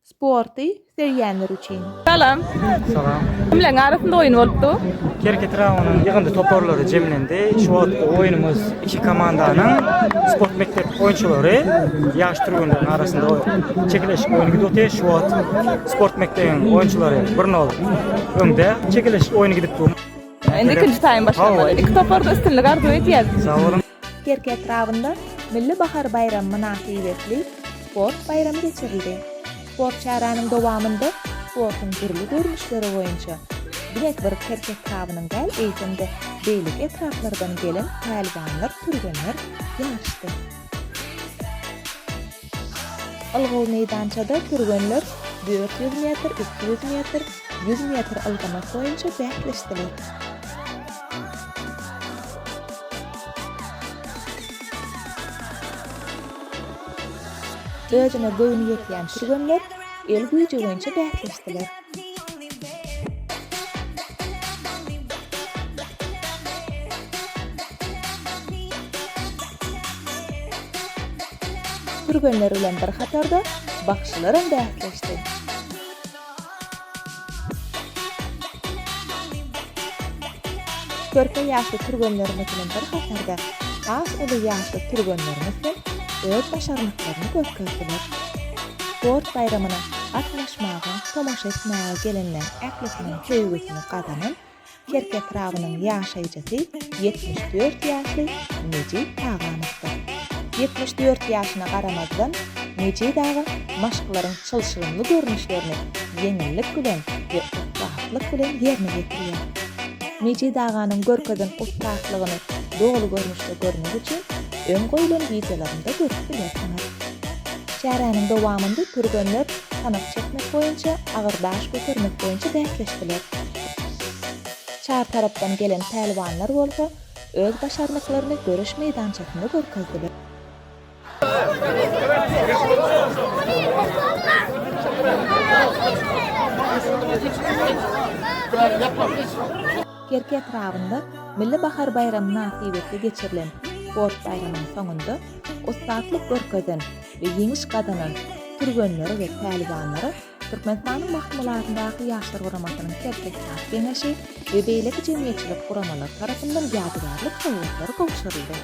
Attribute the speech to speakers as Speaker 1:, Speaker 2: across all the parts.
Speaker 1: Sporty söýýänler üçin. Salam.
Speaker 2: Salam.
Speaker 3: Kimleriň arasynda
Speaker 2: oýun bolupdy? Kerkit raýonynyň
Speaker 3: ýygyndy toparlary jemlendi. Şu wagtky oýnumyz iki komandanyň sport mekdep oýunçylary ýaş türgenleriň arasynda çekeleşik oýny gidip otyr. Şu wagt sport mekdebiň oýunçylary bir nol öňde çekeleşik oýny gidip dur. Indi ikinji taým
Speaker 2: başlamaly. Iki toparda üstünlik arzuw edýäs. Sag boluň.
Speaker 3: Kerki etrabynda
Speaker 1: Milli bahar baýramy mynasybetli sport baýramy geçirildi. Sport çäräniň dowamynda sportuň dürli görnüşleri boýunça diňe bir Kerki etrabynyň däl, eýsem-de beýleki etraplardan gelen pälwanlar, türgenler ýaryşdy. Ylgaw meýdançada türgenler dört ýüz metr, iki ýüz metr, ýüz metr ylgamak boýunça bäsleşdiler. Özüne göwni ýetýän türgenler el güýji boýunça bäsleşdiler. Türgenler bilen bir hatarda bagşylaram bäsleşdi. Körpe ýaşly türgenlerimiz bilen bir hatarda has uly ýaşly türgenlerimiz hem öz başarnyklaryny görkezdiler. Sport baýramyna gatnaşmaga, tomaşa etmäge gelenleriň ählisiniň söýgüsini gazanan Kerki etrabynyň ýaşaýjysy ýetmiş dört ýaşly Mejit Taganowdyr. Ýetmiş dört ýaşyna garamazdan, Mejit aga maşklaryň çylşyrymly görnüşlerini ýeňillik bilen we ussatlyk bilen ýerine ýetirýär. Mejit aganyň görkezen ussatlygyny doly görnüşde görmek üçin öň goýlan wideolarynda görüp bilersiňiz. Çäräniň dowamynda türgenler sanak çekmek boýunça, agyr daş götermek boýunça bäsleşdiler. Çar tarapdan gelen pälwanlar bolsa öz başarnyklaryny göreş meýdançasynda görkezdiler. Kerki etrabynda Milli bahar baýramy mynasybetli geçirilen sport baýramynyň soňunda, ussatlyk görkezen we ýeňiş gazanan türgenlere we päliwanlara Türkmenistanyň Mahmylatlydagky Ýaşlar guramasynyň Serhetdag geňeşi we beýleki jemgyýetçilik guramalary tarapyndan ýadygärlik sowgatlary gowşuryldy.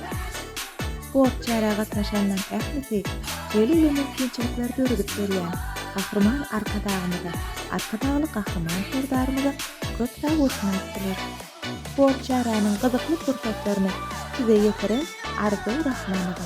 Speaker 1: Sport çärä gatnaşanlaryň ählisi şeýle uly mümkinçilikleri döredip berýän Gahryman Arkadagymyza, Arkadagly Gahryman Serdarymyza köp sag bolsun aýtdylar. Sport çäräniň gyzykly pursatlaryny size ýetiren Arzuw Rahmanowa.